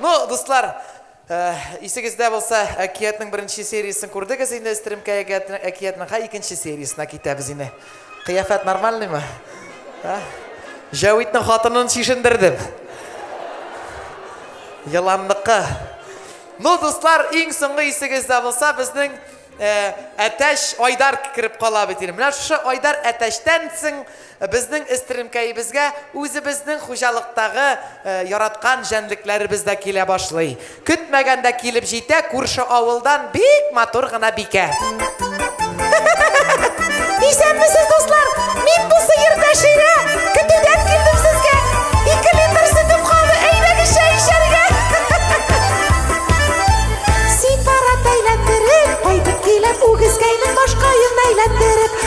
Ну, дуслар, э, исегездә булса, әкиятнең беренче сериясен күрдегез инде, Стрімка әкиятнең ха икенче сериясына китәбез инде. Кыяфәт нормальныймы? Ә? Җәвитнең хатынын чишендердем. Еланныкы. Ну, дуслар, иң соңгы исегездә булса, безнең э, Әтәш Айдар кереп кала бит инде. Менә шушы Айдар Әтәштән соң Безнең эстренкәебезгә үзебезнең хуҗалыктагы яраткан җәнлекләребез дә килә башлый. Көтмәгәндә килеп җитә күрше авылдан бик матур гына бикә. Исәнмесез, дуслар! Мин бу сыер Бәширә! Көтүдән килдем сезгә! Ике литр сөтем калды, әйдәгез чәй эчәргә! Ситарат әйләндереп, кайтып киләм, үгезгәйнең башкаен әйләндереп.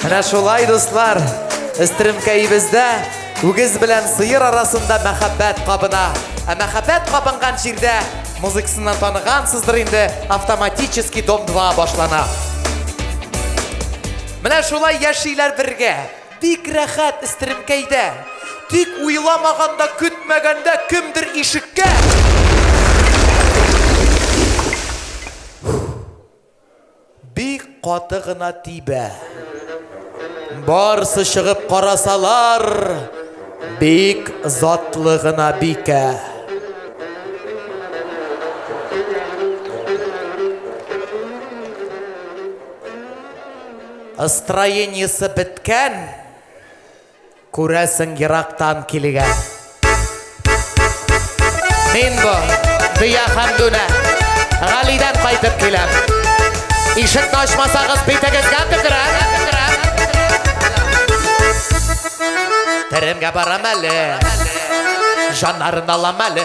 Менә шулай, дуслар, эстеремкәебездә үгез белән сыер арасында мәхәббәт кабына. Ә мәхәббәт кабынган җирдә музыкасыннан танығансыздыр инде автоматически дом 2 башлана. Менә шулай яшиләр бергә. Бик рәхәт эстеремкәйдә. Тик уйламаганда, көтмәгәндә кемдер ишеккә Бик каты гына тибә. Барсы чыгып карасалар, бик затлы гына бикә. Ыстроениесе беткән, Күрәсең ерактан килгән. Мин бу, дөя һәм дүнә, Галидән кайтып киләм. Ишекне ачмасагыз, битегезгә төкерәм. Теремгә барам әле, җаннарын алам әле.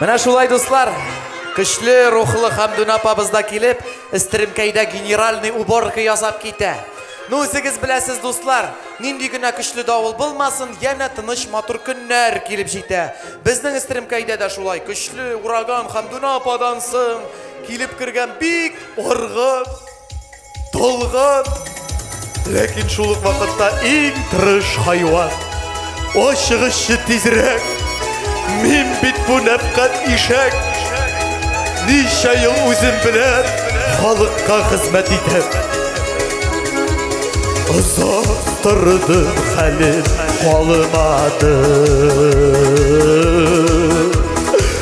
Менә шулай, дуслар, көчле рухлы Хамдүн апабыз да килеп, Эстеремкәйдә генеральный уборка ясап китә. Ну, үзегез беләсез, дуслар, нинди генә көчле давыл булмасын, янә тыныч матур көннәр килеп җитә. Безнең Эстеремкәйдә дә шулай көчле ураган Хамдүн ападан соң килеп кергән бик оргы Талгат! Ләкин шул ук вакытта иң тырыш хайван. Ашыгышчы тизрәк. Мин бит бу нәпкать ишәк. Ничә ел үзем белән халыкка хезмәт итеп. Озак торды хәлем калмады.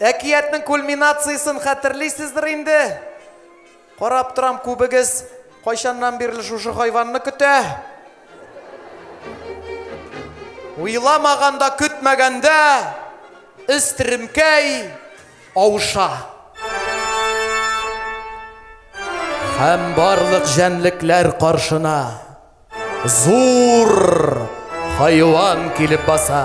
Әкиятнең кульминациясен хәтерлисездер инде. Карап торам, күбегез кайчаннан бирле шушы хайванны көтә. Уйламаганда, көтмәгәндә Өстеремкәй авыша. Һәм барлык җәнлекләр каршына зур хайван килеп баса.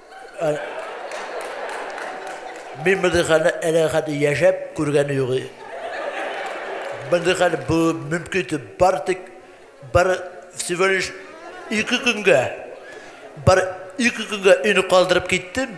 Мин мондый хәлне әле хәтле яшәп күргәне юк. Мондый хәл бу мөмкин итеп бар тик бар всего лишь ике көнгә бар ике көнгә өйне калдырып киттем.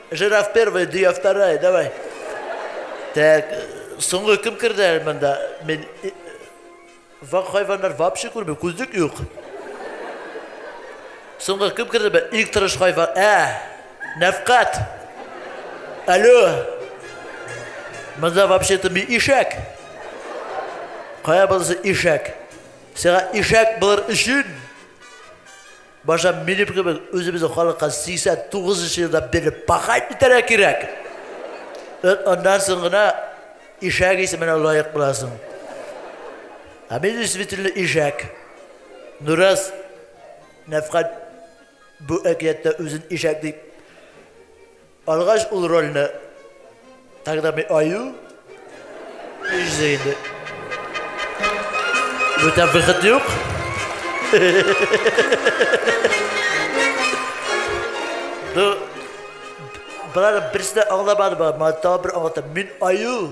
Жираф первый, дөя вторая, давай. Так, соңгы кем керде әле монда? Мин вак хайваннар вообще күрмим, күзлек юк. Соңгы кем керде? Бе? Иң тырыш хайван. Ә, Нәфкат. Алло. Монда вообще-то мин ишәк. Кая булса ишәк. Сиңа ишәк булыр өчен Башта минем кебек үзебезнең халыкка 89 нчы елда бирле пахать итәргә кирәк. Эт аннан соң гына ишәк исеменә лаек буласың. Ә мин действительно ишәк. Нураз Нәфкать бу әкияттә үзен ишәк дип Алгач ул рольне тогда мы аю изде инде. Бүтән выход юк. Ду Брат, берсенә аңламадым, мата бер аңлатам. Мин аю,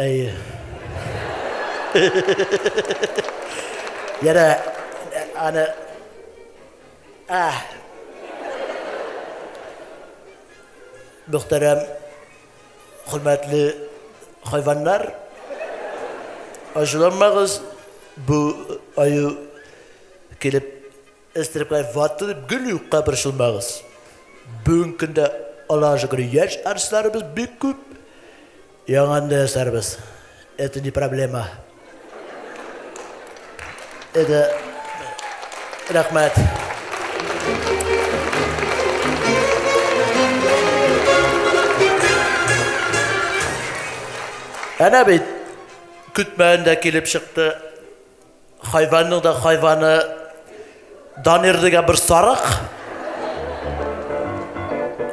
Әйе. Яра, аны... А! Мөхтәрәм, хөрмәтле хайваннар, ачуланмагыз, бу аю килеп Эстрекай ватты дип гел юкка борчылмагыз. Бүгенге көндә Аллага шөкер яшь артистларыбыз бик күп. Яңаны да ясарбыз. Это не проблема. Это рәхмәт. Әнә бит көтмәгәндә килеп чыкты. Хайванның да хайваны Данир дигән бер сарык.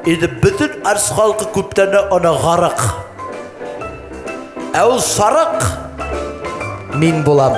Иде бөтен арс халкы күптән аны гарык. Ә ул сарык мин булам.